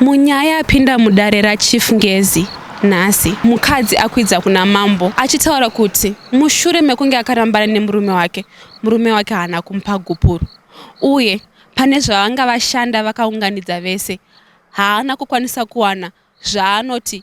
Munyaya yapinda mudare raChief Ngezi nhasi, mukadzi akwidza kuna mambo achitaura kuti mushure mekunge akarambana nemurume wake, murume wake haana kumupa gupuro uye pane zvavanga vashanda vakaunganidza vese haana kukwanisa kuwana zvaanoti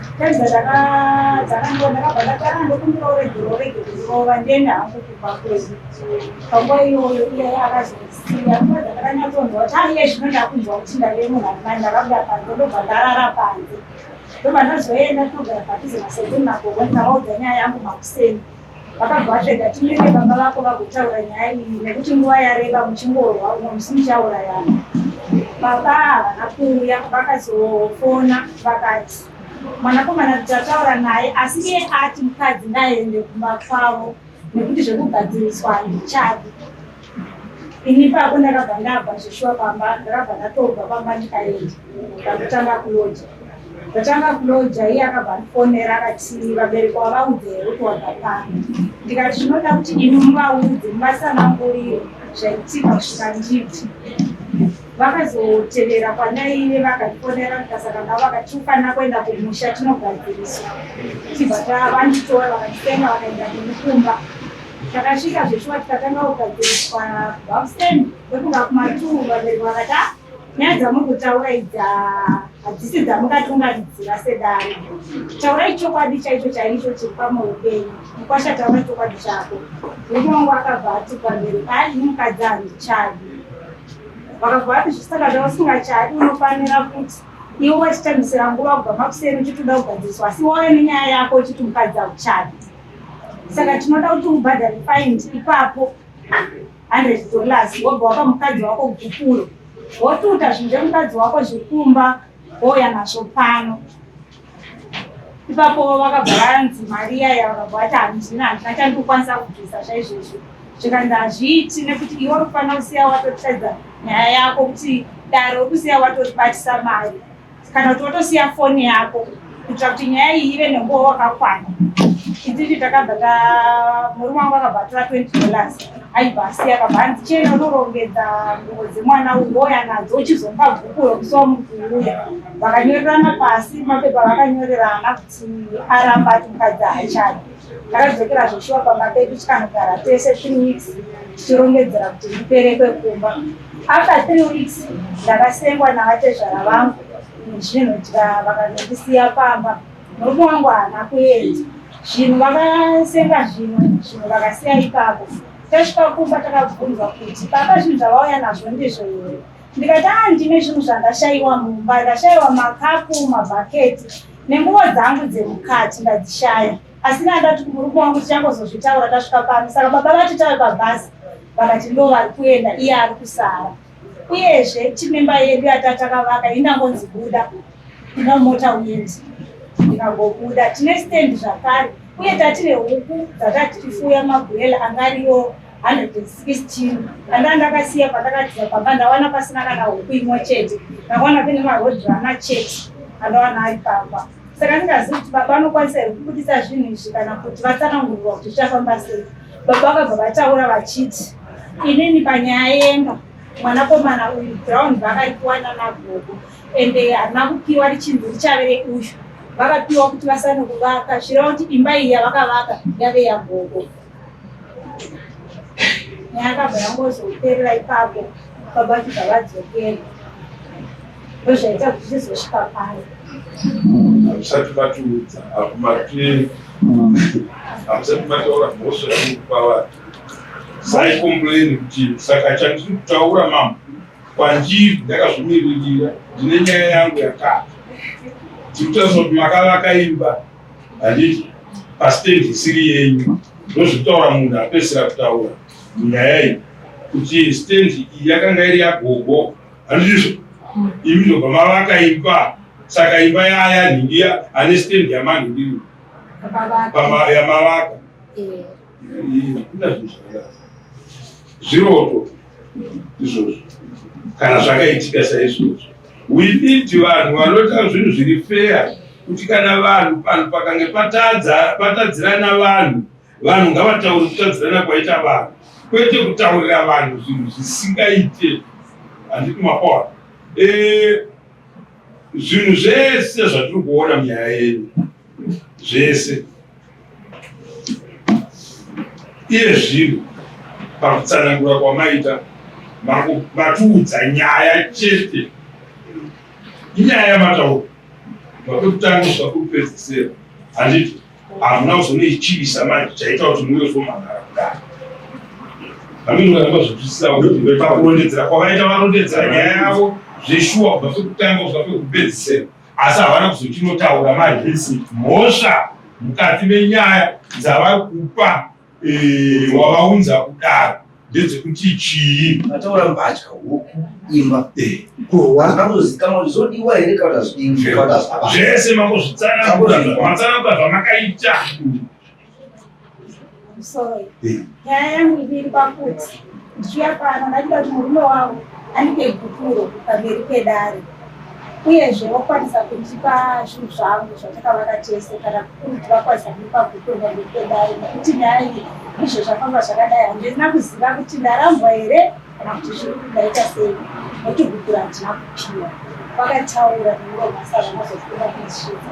Taiza dzakandiona ndakabva ndati ah ndokumbira urege urege kuzorova ndiende hangu kubva kwedu. Panguva iyoyo iye akazosiya nguva dzakakanyatsonzwa kuti ah iye zvino ndakunzwa kuti ndave munhu ari mani ndakabuda panze ndobva ndarara panze. Ndobva ndazoenda togara padhuze nasekuru nagogo ndikavaudza nyaya yangu makuseni. vakabva vatsvega timire baba vako vagotaura nyaya iyi nekuti nguva yareba muchingorwa umwe musi muchaurayana baba havana kuuya vakazofona vakati mwanakomana kuti ataura naye asi iye ati mukadzi ngaende kumba kwavo nekuti zvekugadziriswa handichadi Ini pako ndakabva ndabva zveshuwa pamba ndakabva ndatobva pamba ndikaenda ndakutanga kuloja ndatanga kuloja iye akabva ndifonera akati vabereki wavaudze here kuti wabva pano ndikati zvinoda kuti ini muvaudze muvasanangurire zvaitika kusvika nditi vakazotevera kwanaive vakatifonera ndikasaka navo vakati ufanira kuenda kumusha tinogadziriswa tibva tavanditora vakatitenga vakaenda kumukumba Takasvika zveshuwa tikatanga kugadziriswa bafstand kwekuva kumatuu vabereki vakati ah, nyaya dzamuri kutaura idzi ah, hadzisi dzamungatungaridzira sedare taurai chokwadi chaicho chaicho chiri pamwoyo penyu mukwasha taura chokwadi chako murume wangu akabva ati pamberi ai ini mukadzi handichadi vakabva vati zvisaka zvausingachaadi unofanira kuti iwe wachitambisira nguva kubva makuseni uchitoda kugadziriswa asi wauya nenyaya yako uchiti mukadzi hauchadi saka tinoda kuti ubhadhare faini ipapo hundred dollars wobva wapa mukadzi wako gupuro wotuta zvinhu zvemukadzi wako zvekumba wouya nazvo pano ipapo vakabva vanzi mari yaya vakabva vati handina handina chandikukwanisa kubvisa zvaizvozvo zvikanzi hazviiti nekuti iwe uri kufanira kusiya watotadza nyaya yako kuti dare ukusiya watoribatisa mari kana kuti wotosiya foni yako kuitira kuti nyaya iyi ive nenguva wakakwana ititi takabva ta murume wangu akabva atora twenty dollars aibva asiya akabva anzi chena unorongedza nguvo dzemwana uwoya nadzo uchizomupa bhuku rokusi wamukuuya vakanyorerana pasi mapepa vakanyorerana kuti aramba ati mukadzi haachadi ndakadzokera zveshuwa pamba pedu tikanogara tese three weeks tichirongedzera kuti ndiperekwe kumba After three weeks ndakasengwa navatezvara vangu nezvinhu tika vakanondisiya pamba murume wangu haana kuenda zvinhu vakasenga zvimwe zvinhu vakasiya ipapo tasvika kumba takabvunzwa kuti baba zvinhu zvavauya nazvo ndizvo here ndikati a ndine zvinhu zvandashayiwa mumba ndashayiwa makapu mabhaketi nenguvo dzangu dzemukati ndadzishaya Asi naye ndati kumurume wangu tichangozozvitaura tasvika pano. Saka baba vati tave pabhazi vakati ndo vari kuenda iye ari kusara. Uyezve chimemba yedu yatatakavaka inangonzi buda ina mota uyendi ndikagobuda tine stand zvakare uye tati nehuku dzatati tifuya magwela anga ariyo 116 andaa ndakasiya pandakatiza pamba ndawana pasina kana huku imwe chete ndakawana pene marodhi ana chete andawana ari pamba saka ndingazivi kuti baba vanokwanisa here kubudisa zvinhu izvi kana kuti vatsanangurirwa kuti zvichafamba sei baba vakabva vataura vachiti inini panyaya yemba mwanakomana uyu ground vakaipiwa nanagogo ende harina kupiwa richinzi richave reuyu vakapiwa kuti vasane kuvaka zvireva kuti imba iyi yavakavaka yave yagogo yakabva yangozoperera ipapo baba kuti vadzokere ndozvaita kuti tizosvika pano hamusati matiudza akumati hamusati mataura mhosva yekupa vanhu saikomplaini kuti saka chandiri kutaura mambo kwandiri ndakazvimiririra ndine nyaya yangu yakati tiri kutariswa kuti makavaka imba handiti pasiteji isiri yenyu ndozvitaura munhu apesera kutaura munyaya iyi kuti stendi iyi yakanga iri yagogo handizvo imi ndobva mavaka imba saka imba yaya nhingiya ane stendi yamanhindiri yamavaka zviroto izvozvo kana zvakaitika saizvozvo we need vanhu vanoita zvinhu zviri feya kuti kana vanhu panhu pakange patadzirana vanhu vanhu ngavatauri kutadzirana kwaita vanhu kwete kutaurira vanhu zvinhu zvisingaite handiti makona eh, zvinhu zvese zvatiri kuona munyaya yenyu zvese iye zvino pakutsanangura kwamaita matiudza nyaya chete inyaya yamataura makekutanga kuda kupedzisera handiti hamuna kuzonoichivisa manje chaita kuti muve zomhanara kudaro aminoaazvipisisaoepakurondedzera kwavaita varondedzera nyaya yavo zveshuwa kubva pekutanga kuda pekupedzisera asi havana kuzochinotaura mahesi mhosva mukati menyaya dzavari kupa eh, wavaunza kudaro ndedzekuti chii ataura mbatya huku imba eh. kuhwaanozikama kuti zodiwa here kana zvese makuzvitsanangura zvamatsanangura zvamakaita nyaya yangu iri pakuti ndichiuya pano ndakuda kuti murume wavo andipe gupuro pamberi pedare uyezve vokwanisa kundipa zvinhu zvangu zvatakavaka tese kana kuti vakwanisa kundipa gupuro pamberi pedare nekuti nyaya iyi ndizvo zvafamba zvakadai handina kuziva kuti ndarambwa here kana kuti zviri ndaita sei nekuti gupuro handina kupiwa vakataura nemuromasara mazofuna kundisvitsa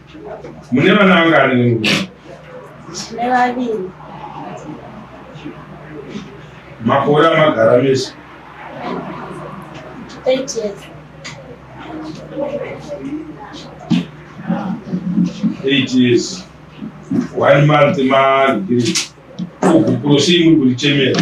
Mune vana vangani nemurume? Tine vaviri. Makore amagara mese? 8 years. 8 years. One month ma degree. Uku prosii muri kuti chemera?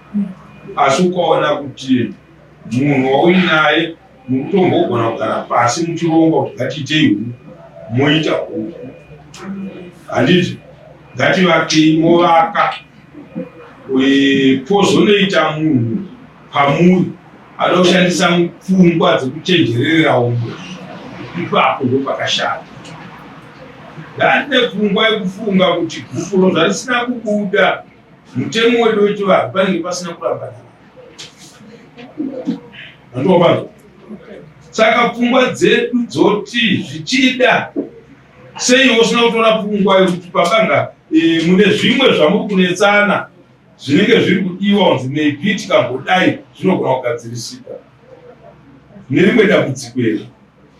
asi ukaona kuti munhu wauinaye mukutombogona kugara pasi muchironga kuti ngatiitei moita huku handiti ngativakei movaka pozonoita munhu pamuri anoda kushandisa pfungwa dzekuchenjererera umwe ipapo ndo pakashata ndandine pfungwa yekufunga kuti gupuro zvarisina kubuda mutemo wedu wechivanhu panenge pasina kurambana andovazo saka pfungwa dzedu dzoti zvichida sei usina kutora pfungwa yekuti pabanga e, mune zvimwe zvamuri kunetsana zvinenge zviri kudiwa kunzi maybe tikambodayi zvinogona kugadzirisika nerimwe dambudziko iri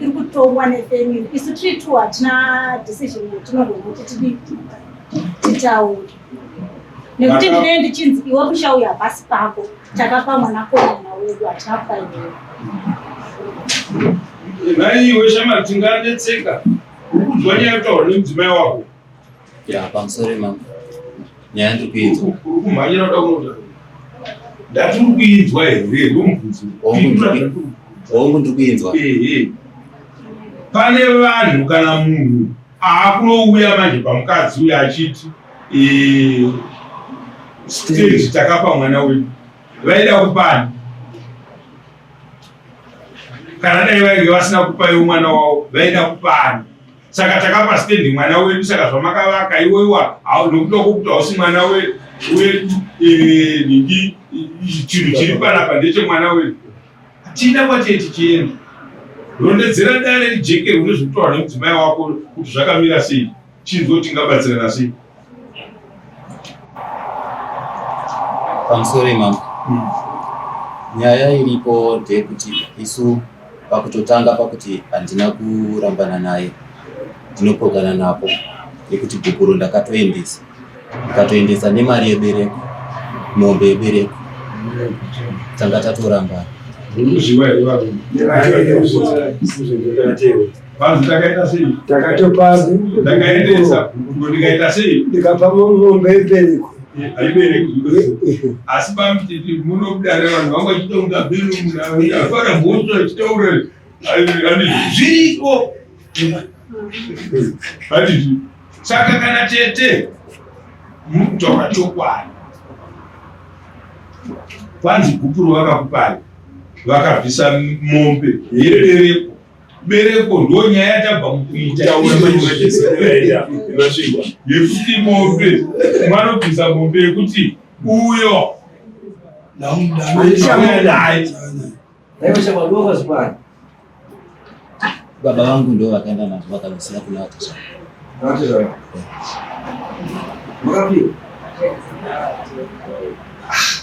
iri kutongwa nefamily isu tiri two hatina decision yatinogona kuti tidi titaure nekuti ndinee ndichinzi iwe kushauya pasi pako takapa mwana komana wedu hatina kupainei nhai iwe shama tinganetseka ukunzwa nyaya yataura nemudzimai wako ya pamusoro imama nyaya ndiri kuinzwa kumhanyira kuda kunoda ndatiri kuinzwa here ndomubvunzo hongu ndiri kuinzwa pane vanhu kana munhu aakunouya manje pamukadzi uyo achiti stage takapa mwana wedu vaida kupani kana dai vainge vasina kupayo mwana wavo vaida kupani saka takapa stendi mwana wedu saka zvamakavaka iwoiwa nokuda kwokuti hausi mwana wedu eh, nhingi chinhu chiri panapa ndechemwana wedu hatina kwatiye tichienda rondedzera dare rijekerwe nezvekutaura nemudzimai wako kuti zvakamira sei chinzwo tingabatsirana sei pamusoro imambo hmm. nyaya iripo ndeyekuti isu pakutotanga pakuti handina kurambana naye ndinopokana napo yekuti gukuro ndakatoendesa ndikatoendesa nemari yebereko mombe yebereko tanga tatorambana Panzi takaita sei? Takatopanzi. Ndakaendesa gukuko ndikaita sei? Ndikapa mombe ibereko. Haibereki. Asi pamtiti munobuda revanhu vangu vachitaura bhiru munhu afara mhosva achitaura zviriko. Handizvi. Saka kana tete mutaura chokwadi. Panzi gupuro vakakupai vakabvisa mombe yebereko. bereko ndo nyaya yatabva mukuitaaasvigwa yekuti mombe vanobvisa mombe yekuti uyo baba vangu ndo vakaenda nazvo vakavasiya kula vakashaa ah.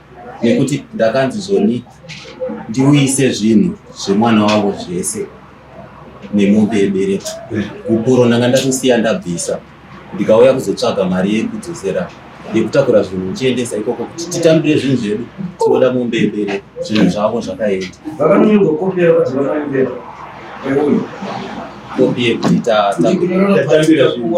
nekuti ndakanzi zvoni ndiuyise zvinhu zvemwana wavo zvese nemombe yebereko kupuro ndanga ndakusiya ndabvisa ndikauya kuzotsvaga mari yekudzosera yekutakura zvinhu uchiendesa ikoko kuti titambire zvinhu zvedu tinoda mombe yebereko zvinhu zvavo zvakaenda kopi yekuti tatambira zvinhu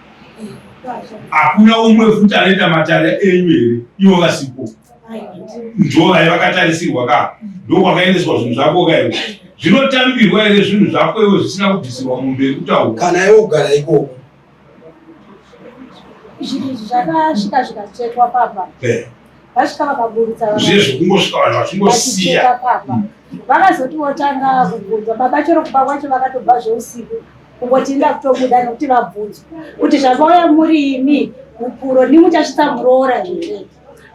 hakuna umwe futi anoita matare enyu here ivo vasipo ndovai vakatarisirwa ka ndokwakaendeswa zvinhu zvako ka iwe zvinotambirwa here zvinhu zvako iwe zvisina kubvisirwa mumberi kutaura kana iwe kugara ikoko zvakasvika zvikatsvetwa papa eh. vasvika vakaburitsa zvezvo kungosvika vanhu vachingosiya papa vakazoti votanga kubvunza baba chero kuba kwacho vakatobva zveusiku uko tinda kutobuda nokuti vabvunzwa kuti zvakauya muri imi hupuro ndimuchasvitsa muroora here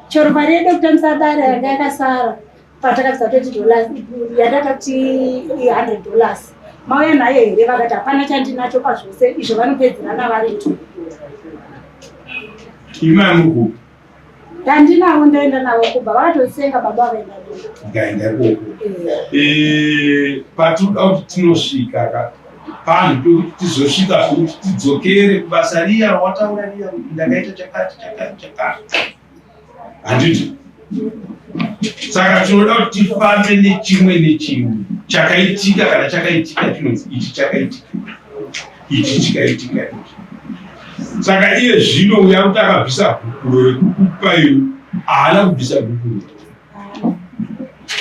chero mari yedu yekutambisa dare yanga yakasara patakabvisa twenty dollars yatakati hundred dollars mauya nayo here vakati hapana chandinacho pazvose izvo vanopedzerana vari two imwe amukupi Ndandinawo ndaenda nawo kubva vatotsenga baba vaenda ndikaenda ikoko eh, patinoda kuti tinosvika ka panhu pekuti tizosvika futi tidzokere kubasa riya rawataura riya kuti ndakaita chakati chakati chakati handiti saka tinoda kuti tifambe nechimwe nechimwe chakaitika kana chakaitika chinonzi ichi chakaitika ichi chikaitika ichi saka iye zvino uya kuti akabvisa gupuro rekukupa iyo haana kubvisa gupuro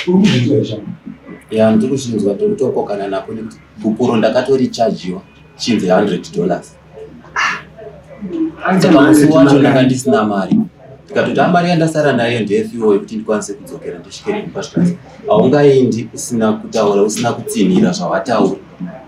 urikuzvinzwa chama ya ndiri kuzvinzwa ndiri kutokokana nako nekuti gupuro ndakatorichajiwa chinzi hundred dollars saka musi wacho ndanga ndisina mari ndikatoti amari ah, yandasara nayo ndeyefiwo yekuti ndikwanise kudzokera ndisvike kumba zvikanzi haungaindi usina kutaura usina kutsinhira zvawataura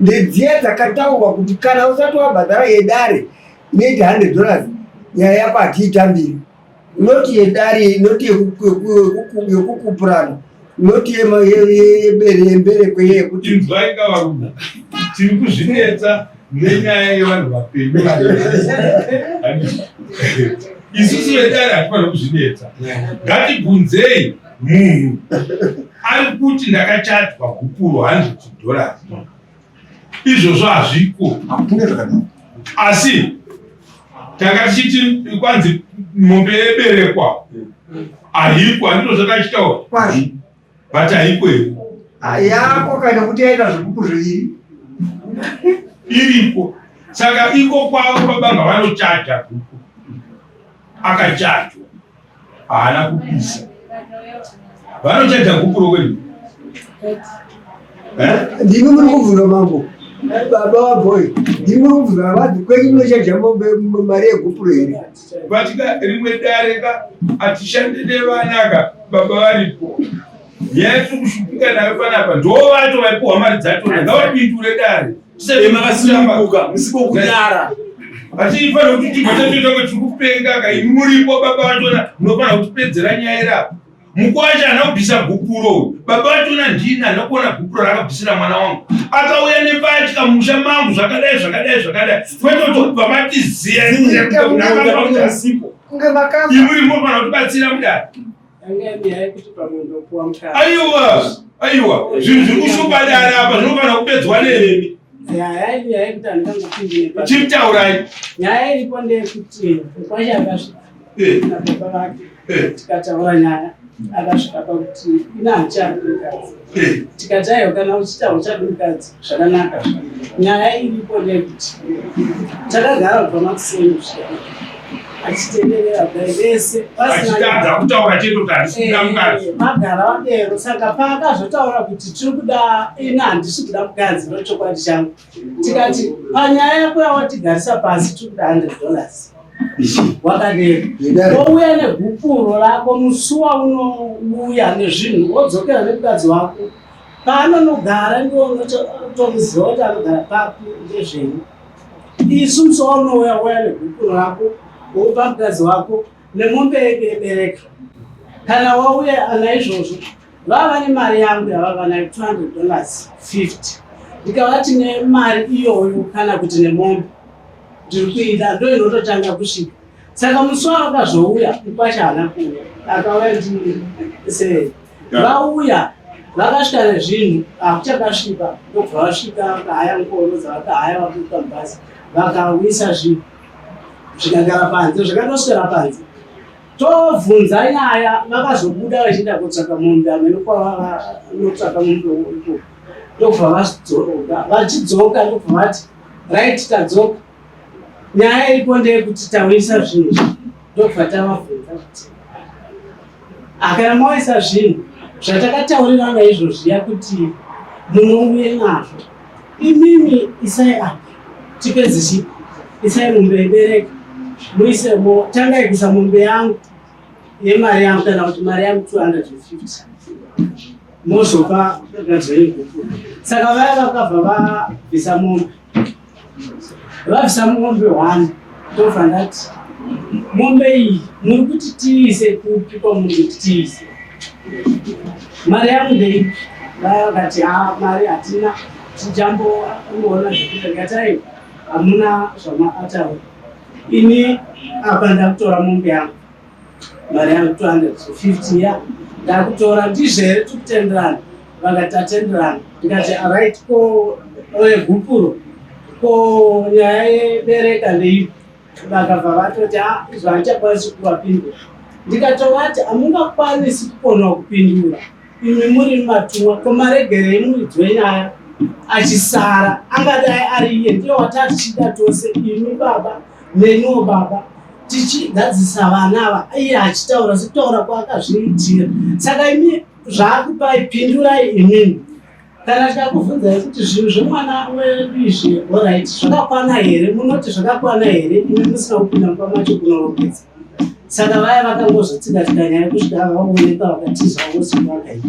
ndedziya dzakataurwa kuti kana usati wabhadhara yedare neti hundred dollars nyaya yako hatiitambiri noti yedare noti yekukupurana noti yemberekwe yekuti inzwai kavarume tiri kuzvinetsa nenyaya yevanhu vapenyu isusu vedare hatifanira kuzvinetsa ngatibvunzei munhu ari kuti ndakachadzwa gupuro hanzi kudhora izvozvo hazviko asi tanga tichiti kwanzi mombe yeberekwa haiko handizvo zvakachitaura kwazvi but haiko iri yako kana kuti yaita zvigupu zviviri iriko saka iko kwavo babanga vanochaja gupu akachajwa haana kupisa vanochaja gupuro kwenu eh? ndimi muri kubvunza mambo baba wabhoyi ndimi muri kubvunza vavati kwenyu munochaja mari yegupuro here vatika rimwe dare ka atishande nevanaka baba varipo nyaya yatiri kushupika nayo panapa ndo vato vaipuhwa mari dzatona ngavapindure dare tisemakasimuka musipo kudara atifanira kuti tibva tatoita kuti tiri kupenga ka imi muripo baba vatona munofanira kutipedzera nyaya iri apa mukwasha ana kubvisa gupuro uyu baba vatona ndini ana kuona gupuro raakabvisira mwana wangu akauya nembatya musha mangu zvakadai zvakadai zvakadai kwetotobva matiziya imuri mofanira kutibatsira mudari Aiwa, aiwa, zvinhu zviri kushupa dare apa zvinofanira kupedzwa nemi. Chief taurai. Nyaya iripo ndeyekuti kwacha akasvika eh. nababa vake eh. tikataura nyaya akasvika pakuti ina hachakuikadzi tikatayo kana uchita uchadi mukadzi zvakanaka nyaya iripo nekuti takagara kubva makuseni kusvika achitenderera kudai vese pasinaachitadza kutaura chete kuti handisikuda eh, mukadzi magara vadero saka paakazotaura kuti tiri kuda ina handisi kuda mukadzi ndochokwadi changu tikati panyaya yako yawatigarisa pasi tiri kuda 100 dollars wakadero wouya negupuro rako musuwa unouya nezvinhu wodzokera nemukadzi wako paanonogara ndiwo unotomuziva kuti anogara papi ndezvenyu isu musuwa unouya uya negupuro rako wopa mukadzi wako nemombe yedu yebereka kana wauya ana izvozvo vava vane mari yangu yavava nayo 200 dollars 50 ndikavati nemari iyoyo kana kuti nemombe ndiri kuida ndo inototanga kusvika saka musi wavakazouya mukwacha haana kuuya akauya ndii se vauya vakasvika nezvinhu hakuchakasvika ndobva vasvika vakahaya ngoro dzavakahaya vakuita mubhazi vakawisa zvinhu zvikagara panze zvakatoswera panze tobvunza nyaya vakazobuda vachienda kotsvaka mombe amene kwavanotsvaka mombe uko ndokubva vazidzoka vachidzoka ndokubva vati right tadzoka nyaya iripo ndeyekuti tauyisa zvinhu ndokubva tavabvunza kuti Akana mawaisa zvinhu zvatakataurirana izvozviya kuti munouye nazvo imimi isai apa tipedze chi isai mombe ibereke muise mo tangai kuisa mombe yangu yemari yangu kana kuti mari yangu 250 mozopa gadzva yegupura saka vaya vakabva vabvisa mombe vabvisa mombe one ndobva ndati mombe iyi muri kuti tiise kupi kwamuri kuti tiise mari yangu ndeipi vaya vakati ha ah, mari hatina tijambo ungoona zvekuita ngatai hamuna zvamaataura ini apa ndakutora mombe yangu mari yangu 250 ya ndakutora ndizvo here tikutenderana vakati tatenderana ndikati arit ko egupuro ko nyaya yebereka ndeipi vakabva vatoti a ah, izvo haichakwanisi kuvapindura ndikatovati hamungakwanisi kukona kupindura imi muri matumwa ko maregerei muridzwe nyaya achisara angadai ari iye ndiye watatichida tose imi baba Nenuwo baba tichigadzisa vana ava iye achitaura sekutaura kwaakazviitira saka imi zvaakupai pindurai imimi kana tikakubvunzai kuti zvinhu zvemwana wedu izvi orit zvakakwana here munoti zvakakwana here imi musina kupinda mumba macho kunorongedza saka vaya vakangozotsika tikanyaya kusvika vaoneka vakatiza vosivakaita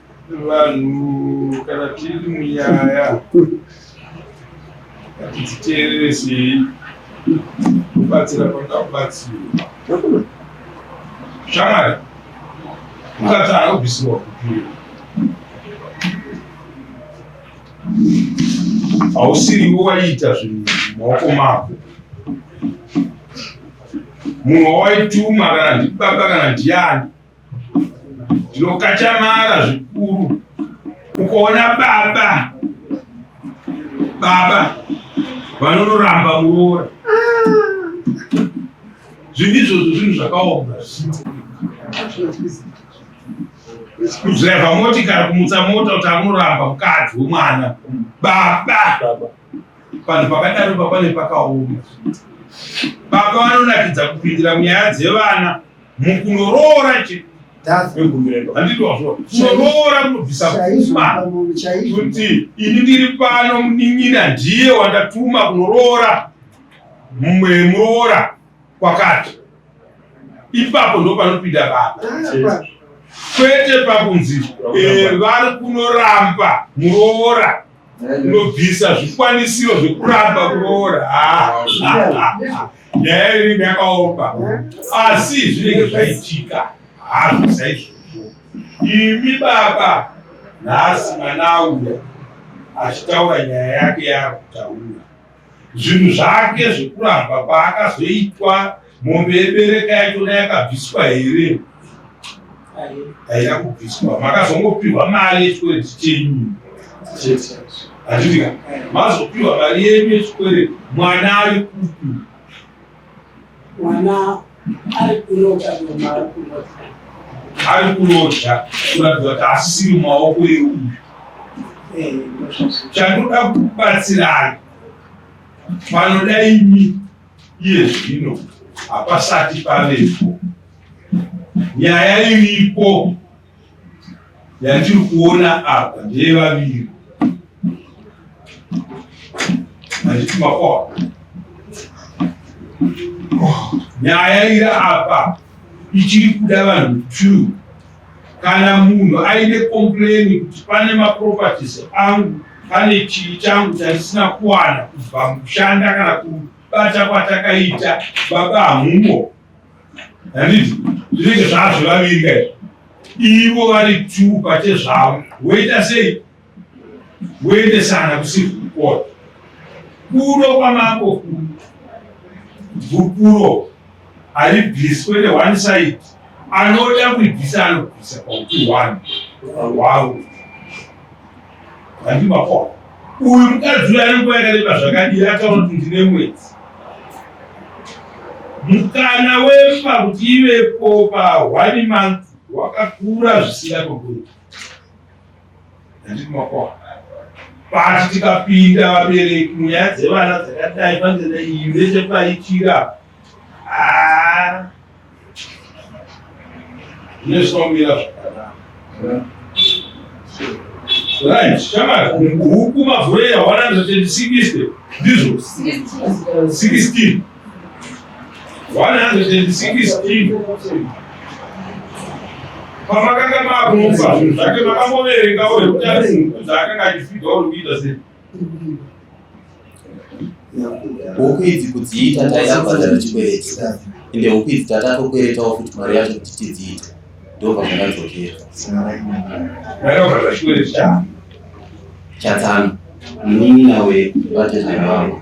vanhu kana tiri munyaya hatiziteereresei kubatsira kwanga kubatsirwa shamwari ukati anobvisirwa kupira hausiriwo waiita zvinhu maoko mako munhu wawaituma kana ndibaba kana ndiani Tinokachamara zvikuru ukaona baba baba vanonoramba muroora zvinhu izvozvo zvinhu zvakaoma kudhiraivha motikari kumutsa mota kuti akunoramba mukadzi wemwana baba panhu pakadaro papane pakaoma baba vanonakidza kupindira munyaya dzevana mukunoroora chete kunoroora kunobvisa pfuma kuti ini ndiri pano munin'ina ndiye wandatuma kunoroora mumwe muroora kwakati ipapo ndo panopinda baba kwete pakunzi eh, vari kunoramba muroora unobvisa zvikwanisiro zvekuramba kuroora nyaya iri yakaomba asi zvinenge zvaitika hazvo saizvozvo imi baba nhasi mwana auya achitaura nyaya yake yaakutaura zvinhu zvake zvekuramba kwaakazoitwa mombe yebereka yachona yakabviswa here haina kubviswa makazongopiwa mari yechikwereti chenyu handitika mazopiwa mari yenyu yechikwereti mwana ari kupi Ari kurota ngoma ari kurota. Ari kurota kuratidza kuti asisiri mumaoko euyu. Eh, Chandinoda kubatsirai panoda imi iye zvino hapasati pavepo nyaya iriko yatiri kuona apa ndeyevaviri handiti makwa nyaya iri apa ichiri kuda vanhu two kana munhu aine komplaini kuti pane maproperties angu pane chii changu chatisina kuwana kubva mushanda kana kubata kwatakaita baba hamumo handiti zvinenge zvazvo vaviri kai ivo vari two pachezvavo woita sei woendesana kusiku kukona kuno kwamako gupuro haribviswe ne one side anoda kuibvisa anobvisa pauti one wawo Handimapo. Uyu mukadzi uyu anenguva yakareba zvakadii ataura kuti ndine mwedzi. Mukana wemba kuti ivepo pa one month wakakura zvisina kogona. Handimapo. Pati tikapinda vabereki munyaya dzevana dzakadai panzenda iyi nechepaitira Ah. Nezvinomira zvakanaka. Right, shamari, huku mavhure ya 160 ndizvo 16. 116. Pamakanga makumva, zvake makamboverenga uri kuti ari huku dzaakanga achifidwa uri kuita sei? huku idzi kudziita taida kubhadhara chikwereti ende huku idzi tatatokweretawo futi mari yacho kuti tidziite ndobva zvakadzokera chatsano munin'ina wevatezvara vavo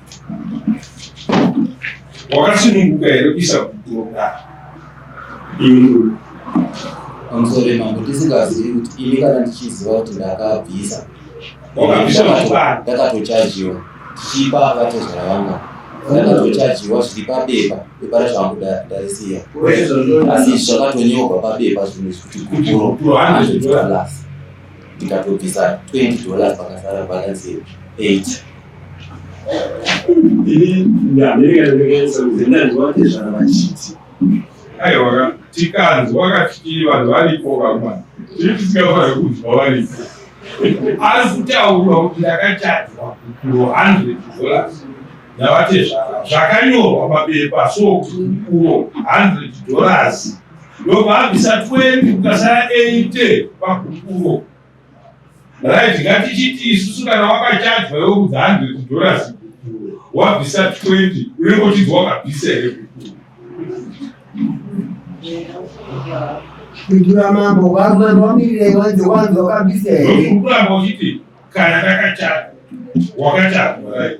wakasununguka here kuisa gupuro kudaro iwe pamusoro mambo tisingazivi kuti ini kana ndichiziva kuti ndakabvisa ndakatochajiwa tichipa vatezvara vanga ndakatochajiwa zviri pabepa bepa racho hangu ndarisiya asi zvakatonyorwa pabepa zvinhu zvikuti gupuro andozvitoalasi ndikatobvisa 20 dollars pakasara balance 8 ini ndamereka ndikaisa kuzenda ndiwate zvana vachiti aiwa tikanzwa katikiri vanhu varipo vamwana tiri tisingafanira kunzwa varipo ari kutaurwa kuti ndakachadzwa kukuro 100 dollars ndavatezvara zvakanyorwa papepa so kuti kukuro 100 dollars ndokuabvisa 20 kukasara 8 pakukuro right ngatichiti isusu kana wakachajwa iwe kudzi 100 dollars wabvisa 20 unenge uchinzi wakabvisa here kukuro Ndura mambo wazwa ndomirire wanzi wanzi wakabvisa here kuramba uchiti kana takachajwa wakachajwa right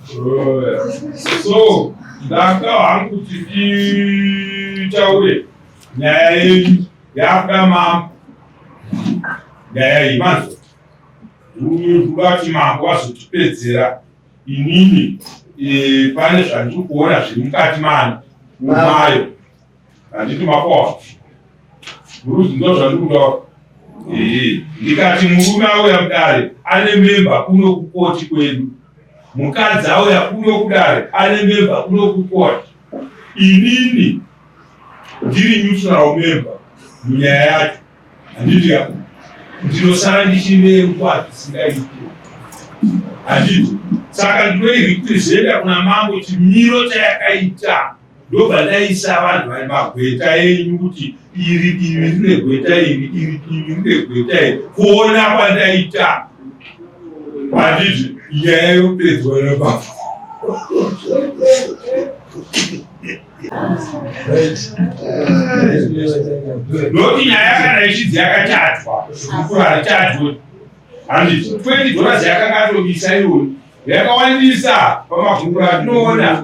so ndanga hangu kuti nditaure nyaya yenyu yakuda mambo nyaya iyi manzwa ndati mambo wazotipedzera inini eh, pane zvandiri kuona zviri mukati mani umayo handiti makoa muruzi ndo zvandiri kutaura ndikati murume auya kudare ane memba kuno kukoti kwedu mukadzi auya kuno kudare ane memba kuno kukoti inini ndiri neutral memba munyaya yacho handiti ya ndinosara ndichine nguva dzisingaiti handiti saka ndinoirepresenta kuna mambo chimiro chayakaita ndobva ndaisa vanhu vari magweta enyu kuti iri divi rine gweta iri iri divi rine gweta iri kuona kwandaita handiti nyaya yopedzwa nababa noti nyaya kana ichidzi yakatadzwa kukura hatadzwe handiti twendi dhoras yakanga atobisa iwoni yakawandisa pamagungura atinoona